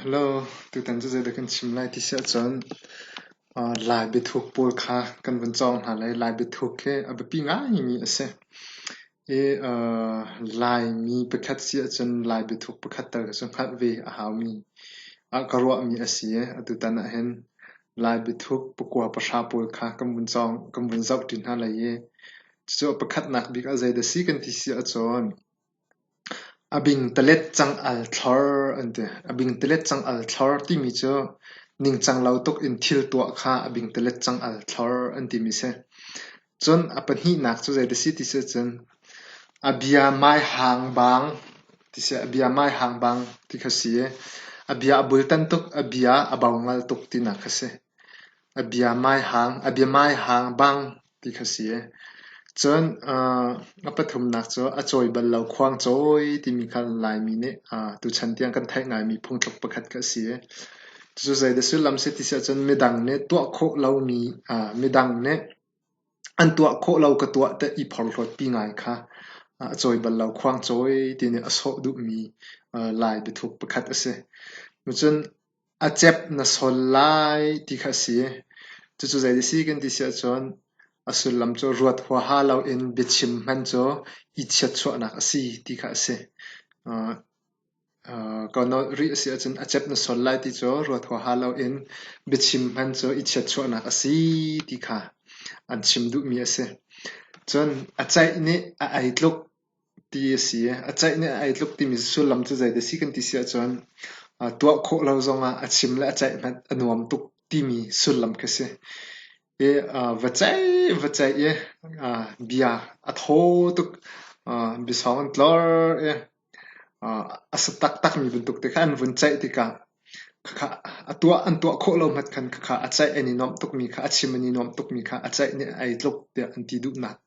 Hello, tutan cu zeidah kan chim lai ti si ahcun Lai biathuk pawl kha kan vun cawng hna lai. Lai biathuk hi a biapi ngaimi a si. I Laimi pakhat si ahcun Lai biathuk pakhat tal cu hngalh ve a haumi, ka ruahmi a si i atutan ahhin Lai biathuk pakua pahra pawl kha kan vun cawng, kan vun zohṭi hna lai i cucu a pakhatnak bik ah zeidah a si kan ti si ahcun A bingtalet cang-al thlor timi cu ningcang lo tuk in thil tuah kha a bingtalet cang-al thlor an timi a si. Cun a pahnihnak cu zei si ti sih cun a bia mai hang bang ti kha a si i a bia a bultan tuk, a bia a bau ngal tuk tinak kha a si. A bia mai hang bang ti kha si e. Cun aa a pathumnak cu a cawi bal lo khuangcawi timi kha Laimi nih aa tuchan tiang kan theih ngaimi phungthluk pakhat kha a si e. Cucu zei dah sullam si ti si ahcun midang nih tuah khawh lomi aa midang nih an tuah khawh lo ka tuah tiah i phorhlawtpi ngai kha aa a cawi bal lo khuangcawi ti nih a sawh duhmi aa lai biathuk pakhat a si. Cun a cep na sawn lai ti kha a si. Cucu zei ti a si kan ti si ahcun a sullam cu ruat huaha loin biachim hman cu i chiatchuahnak a si ti kha a si. Uh, uh, ko nawl rih a si ahcun a cep na sawn lai ti cu ruat huaha loin biachim hman cu i chiatchuahnak a si ti kha an chim duhmi a si. Cun a ceih nih a ei tluk ti a si. A ceih nih a ei tluk timi sullam cu zei dah a si kan ti si ahcun tuah khawh lo zongah a chim le a ceih hmanh a nuam tuk timi sullam khi a si. I va ceih va ceih i bia a thaw tuk, biasawng an tlor i a sa taktakmi bantuk ti kha an vun ceih tikah khakha a tuah an tuah khawh lo hmat khan khakha a ceih an i nuamh tukmi kha a chim an i nuamh tukmi kha a ceih nih a ei tluk tiah an ti duhnak.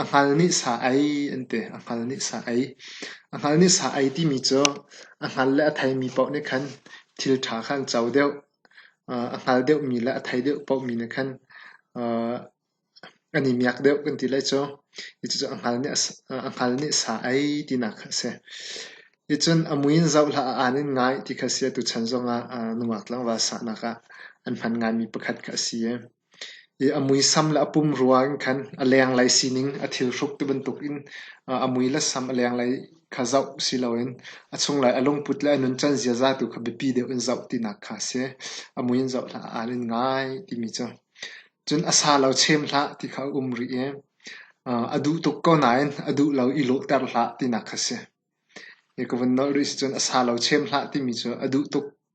A hngal nih sa ei an ti. A hngal nih sa ei. A hngal nih sa ei timi cu a hngal le a theimi paoh nih khan thil ṭha kha an co deuh. A hngal deuhmi le a thei deuh paohmi nih khan an i miak deuh kan ti lai cu. Cucu a hngal nih sa ei tinak kha a si. Ticun a mui in zoh hlah, a aan in ngai ti kha a si. Atu chan zongah nungak tlangval sahnak ah an hman ngaimi pakhat kha a si. I a muisam le a pum ruang in khan a lenglei sining a thilhruk ti bantukin a mui le sam a lenglei kha zoh siloin a chunglei a lungput le a nuncan ziaza tu kha biapi deuh in zoh tinak kha a si. A mui in zoh hlah, aa nin ngai timi cu. Cun a sa lo chem hlah ti kha a um rih i a duh tuk ko nain a duh lo i lawhter hlah tinak kha a si. Hi ka vun nolh rih sicun a sa lo chem hlah timi cu a duh tuk.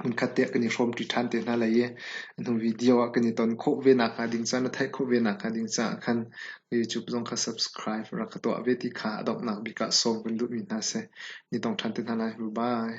Hmunkhat te ah kan i hrawmṭi ṭhan te hna lai i a hnu video ah kan i ton khawh ve nakhnga ding caah, na theih khawh ve nakhnga ding caah khan YouTube zong kha subscribe rak ka tuah ve ti kha a donghnak bik ah sawm kan duhmi hna seh. Ni tong ṭhan te hna lai. Bye-bye.